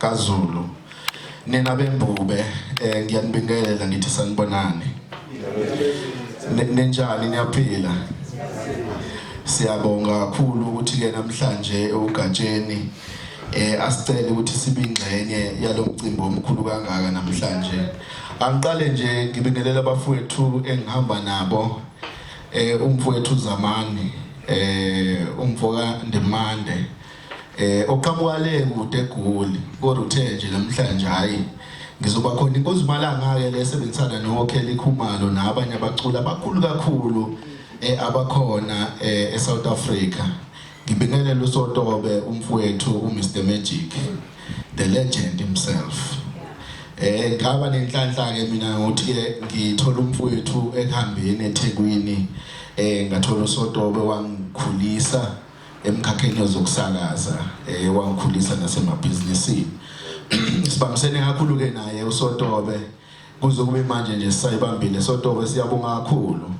kaZulu nina bembube eh ngiyanibingelela ngithi sanibonani nenjani niyaphila siyabonga kakhulu ukuthi ke namhlanje ugatsheni eh asicele ukuthi sibingxenye yalomcimbi omkhulu kangaka namhlanje angiqale nje ngibingelela abafowethu engihamba nabo eh umfowethu Zamani eh umfoka Ndimande Eh oqhamuka le kude egoli kodwa uthe nje namhlanje hayi ngizoba khona inkozi malanga ke lesebenzisana noKelly Khumalo nabanye abaculi abakhulu kakhulu eh abakhona eh eSouth Africa ngibingelela uSotobe umfowethu uMr Magic the legend himself eh ngaba nenhlanhla ke mina ngokuthi ke ngithola umfowethu ekuhambeni eThekwini eh ngathola uSotobe wangikhulisa emkhakheni wezokusakaza eh wangikhulisa nasemabhizinisini sibambisene kakhulu ke naye uSotobe kuze kube manje nje sisayibambile Sotobe siyabonga kakhulu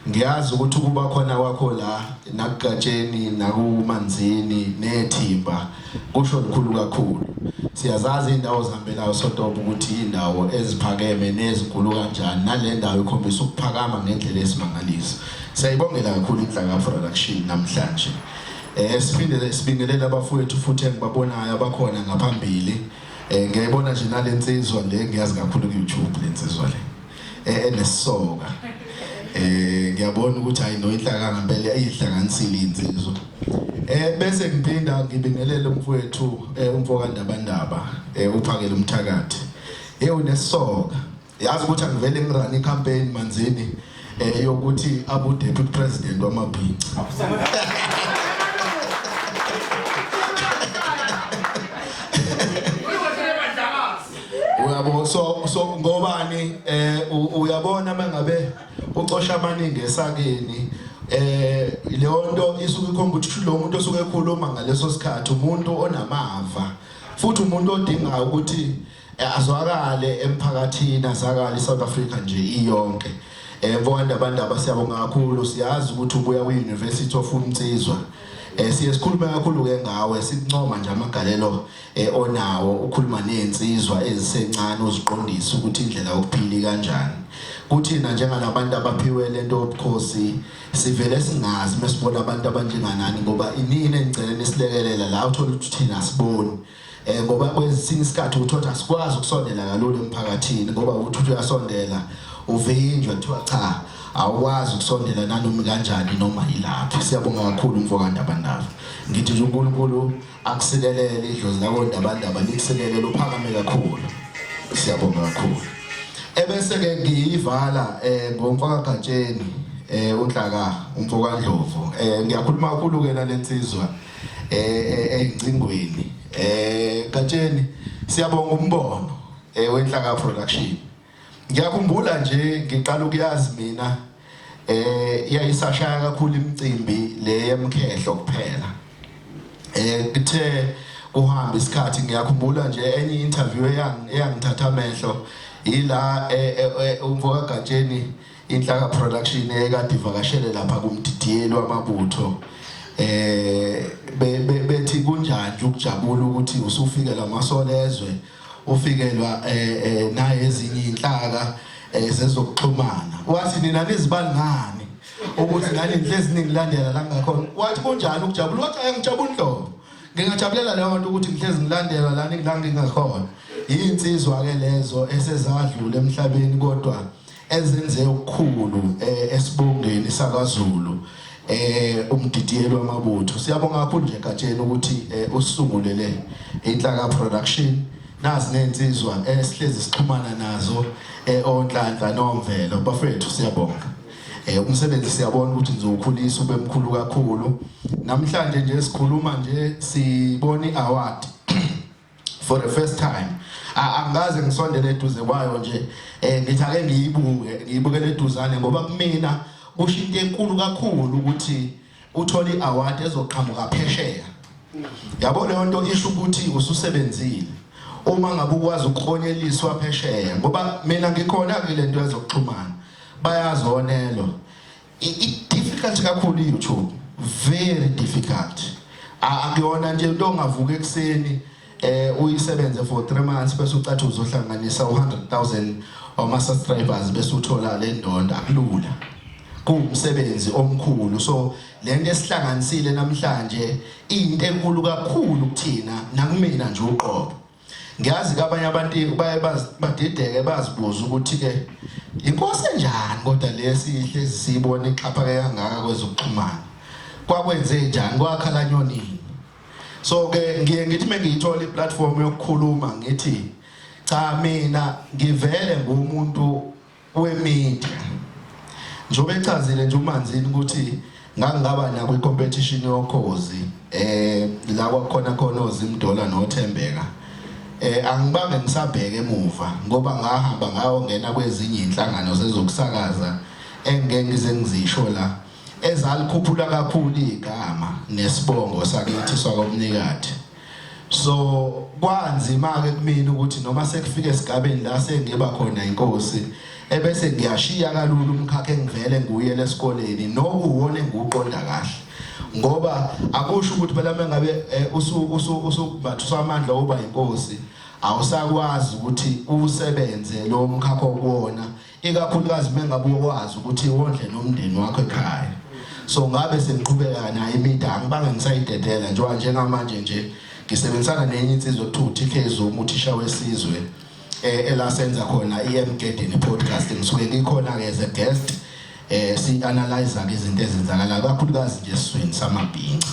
ngiyazi ukuthi ukuba khona kwakho la nakugatsheni nakumanzini nethimba Kusho lukhulu kakhulu. Siyazazi izindawo zihambelayo sotopo ukuthi indawo eziphakeme nezigulu kanjani nale ndawo ikhombisa ukuphakama ngendlela esimangaliso. Siyayibongela kakhulu inhlaka production namhlanje. Eh siphinde sibingelele abafowethu futhi engibabonayo abakhona ngaphambili. Eh ngiyayibona nje nalensizwa le ngiyazi kakhulu ku YouTube lensizwa le. eh, enesoka eh ngiyabona ukuthi hayi no inhlakanga impela iyihlanganisile insizwa eh bese ngiphinda ngibingelele umfowethu eh, umfoka Ndabandaba eh, uphakele umthakathi eh unesoka yazi ukuthi angivele ngirani campaign manzini eh yokuthi abu deputy president wamabhinca uyabo so so ngobani eh uyabona mangabe ucosha amaningi esakeni eh leyo nto isuke ikhomba ukuthi lo muntu osuke ekhuluma ngaleso sikhathi umuntu onamava futhi umuntu odinga ukuthi eh, azwakale emphakathini azakale iSouth Africa nje iyonke eh bonke abantu abasiyabonga kakhulu siyazi ukuthi ubuya kwi-University of Umtsizwa eh siye sikhulume kakhulu ke ngawe sincoma nje amagalelo eh, onawo ukhuluma nezinsizwa ezisencane uziqondisa ukuthi indlela yokuphila kanjani kuthina njengalabantu abaphiwe lento yobukhosi sivele singazi mesibona abantu abanjenganani ngoba inini engicela nisilekelela la uthola ukuthi thina siboni eh ngoba kwesinye isikhathi uthola sikwazi ukusondela kalula emphakathini ngoba uthi uyasondela uvinjwa kuthiwa cha awukwazi ukusondela nanoma kanjani noma yilaphi siyabonga kakhulu mfokandaba ndaba ngithi uNkulunkulu akusikelele idlozi lakondabandaba likusikelele uphakame kakhulu siyabonga kakhulu ebese-ke ngiyivala um ngomfakagatsheni um unhlaka umfokandlovu um ngiyakhuluma kakhulu-ke nale nsizwa um ey'ncingweni um gatsheni siyabonga umbono um wenhlaka production Ngiyakhumbula nje ngiqala ukuyazi mina eh yayisashaya kakhulu imicimbi le yemkhehlo kuphela. Eh kuthe kuhamba isikhathi ngiyakhumbula nje enye interview eyang eyangithatha amehlo ila eh, eh, eh, umfoka Gatsheni inhlaka production ekade ivakashele lapha kumdidiyeli wamabutho eh bethi kunjani ukujabula ukuthi usufike lamasolezwe ufikelwa eh, eh, naye ezinye inhlaka eh, zezokuxhumana wathi nina nizibani ngani ukuthi ngani nhlezi ningilandela la ngakhona wathi kunjani ukujabula wathi ayangijabula inhlobo ngingajabulela leyo nto ukuthi ngihlezi ngilandela la ningilangingakhona yinsizwa ke lezo esezadlula emhlabeni kodwa ezenze okukhulu eh, esibongeni sakwaZulu eh umdidiyelo wamabutho siyabonga kakhulu nje Gatsheni ukuthi eh, usungulele inhlaka production nazi nensizwa esihlezi eh, sixhumana nazo eOnhlanhla nomvelo bafethu siyabonga eh umsebenzi siyabona ukuthi nizowukhulisa ube mkhulu kakhulu namhlanje nje sikhuluma nje sibona iaward for the first time angikaze ngisondele eduze kwayo nje um ngithi ake ngiyibuke ngiyibukele eduzane ngoba kumina kusho into enkulu kakhulu ukuthi uthole i-award ezoqhamuka phesheya yabo leyo nto isho ukuthi ususebenzile uma ngabe ukwazi ukuklonyeliswa phesheya ngoba mina ngikhona-ke le nto yezokuxhumana bayazonelwa difficult kakhulu YouTube very difficult akuyona nje into ongavuka ekuseni eh uyisebenze for 3 months bese ucathi uzohlanganisa u100000 wama subscribers bese uthola le ndonda kulula kuwumsebenzi omkhulu so lento esihlanganisile namhlanje into enkulu kakhulu kuthina nakumina nje uqobo Ngiyazi ke abanye abantu baye badideke bazibuza ukuthi-ke yinkosi enjani kodwa lesi ihlezi siyibona ixhaphake kangaka kwezokuxhumana kwakwenze njani kwakhala nyonini so ke ngiye ngithi mengiyithola iplatform yokukhuluma ngithi cha mina ngivele ngumuntu kwemedia njengoba echazile nje uManzini ukuthi ngangingaba nako i-competition yokhozi eh la kwakhona khona ozimdola nothembeka eh angibange ngisabheke emuva ngoba ngahamba ngayongena kwezinye inhlangano zezokusakaza engeke ngize ngizisho la ezalikhuphula kakhulu igama nesibongo sakithi sakomnikati so kwanzima ke kumina ukuthi noma sekufike esigabeni la sengiba khona inkosi ebese ngiyashiya kalula umkhakha engivele nguye lesikoleni nokuwona engiwuqonda kahle ngoba akusho ukuthi phela mengabe eh, usu usu usubathusa amandla oba inkosi awusakwazi ukuthi usebenze lo mkhakha okuwona ikakhulukazi mengabe uyokwazi ukuthi wondle nomndeni wakho ekhaya so ngabe sengiqhubeka naye imida angibange ngisayidedela njengoba njengamanje nje ngisebenzisana nenye insizwa okuthiwa uTK Zuma uthisha wesizwe eh, elasenza khona iMgedeni podcast ngisuke ngikhona ke as a guest eh si analyze ke izinto ezenzakala kakhulukazi nje esizweni samabhinca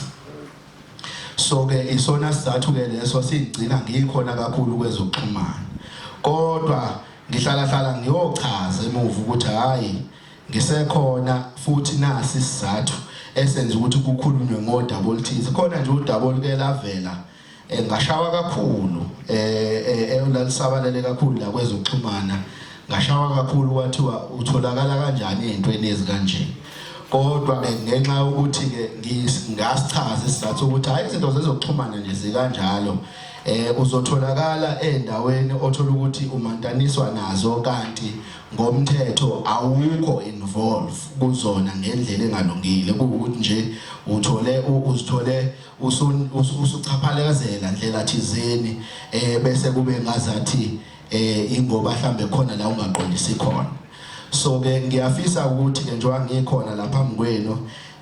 so ke isona sizathu ke leso sigcina ngikhona kakhulu kwezokuxhumana kodwa Ngihlalahlala ngiyochaza emuva ukuthi hhayi ngisekhona futhi nasi isizathu esenza ukuthi kukhulunywe ngodaba oluthize khona nje udaba oluke lavela eh, ngashawa kakhulu um lalisabalele kakhulu la kwezokuxhumana ngashawa kakhulu kwathiwa utholakala kanjani ey'ntweni ezikanje kodwa ke ngenxa yokuthi-ke ngasichaza isizathu ukuthi hhayi izinto zezokuxhumana nje zikanjalo eh uzotholakala endaweni othola ukuthi umantaniswa nazo kanti ngomthetho awukho involve kuzona ngendlela engalungile ukuthi nje uthole uzithole usuchaphalezela ndlela thizeni eh bese kube ngazathi eh ingoba mhlambe khona la ungaqondisi khona so ke ngiyafisa ukuthi ke njengoba ngikhona lapha mngwenu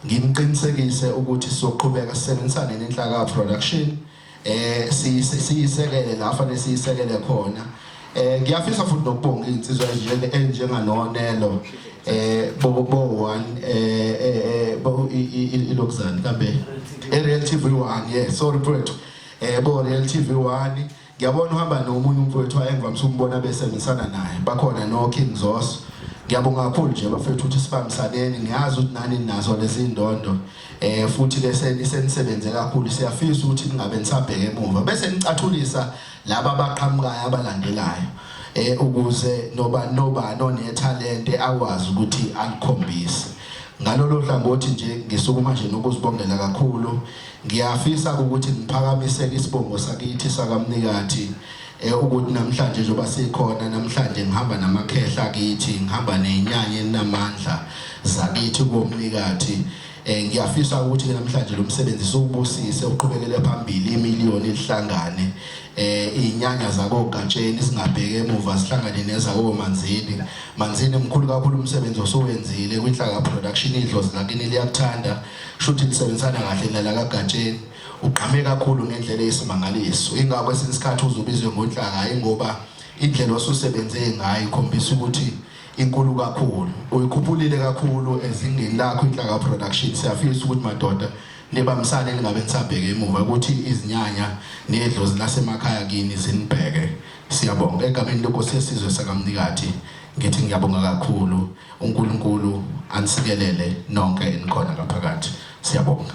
ngimqinisekise ukuthi soqhubeka sisebenzisane nenhlaka production eh siyisekele la fanele siyisekele khona eh ngiyafisa futhi nokubonga insizwa enjenge enjenganonelo eh bo bo one eh, eh, eh bo ilokuzani kambe e real tv 1 yeah sorry mfowethu eh bo real tv 1 ngiyabona uhamba nomunye umfowethu ayengivamisa umbona bese ngisana naye bakhona no king zos ngiyabonga kakhulu nje bafethu ukuthi sibambisaneni ngiyazi ukuthi nani nazo lezi ndondo eh futhi ke senisebenze kakhulu siyafisa ukuthi ningabe nisabheke emuva bese nicathulisa laba abaqhamukayo abalandelayo eh ukuze noba noba nonethalente akwazi ukuthi alikhombise ngalolo hlangothi nje ngisukuma nje nokuzibongela kakhulu ngiyafisa ukuthi ngiphakamisele isibongo sakithi sakamnikathi Eh, ukuthi namhlanje njengoba sikhona namhlanje ngihamba namakhehla kithi ngihamba nenyanya enamandla zakithi komnikathi eh ngiyafisa ukuthi namhlanje lo msebenzi siwubusise uqhubekele phambili imiliyoni elihlangane eh inyanya zako Gatsheni singabheke emuva sihlangane neza ko Manzini Manzini mkhulu kakhulu umsebenzi osowenzile kwinhlaka production idlozi lakini liyakuthanda shuthi lisebenzisana kahle nalaka Gatsheni Ugqame kakhulu ngendlela eyisimangaliso. Ingakho kwesinye isikhathi uze ubizwe ngonhlaka hhayi ngoba indlela osusebenze ngayo ikhombisa ukuthi inkulu kakhulu. Uyikhuphulile kakhulu ezingeni lakho inhlaka production. Siyafisa ukuthi madoda nibambisane ningabe nisabheke emuva ukuthi izinyanya nedlozi lasemakhaya kini zinibheke. Siyabonga egameni lenkosi yesizwe sakamnikathi ngithi ngiyabonga kakhulu uNkulunkulu anisikelele nonke enikhona ngaphakathi. Siyabonga.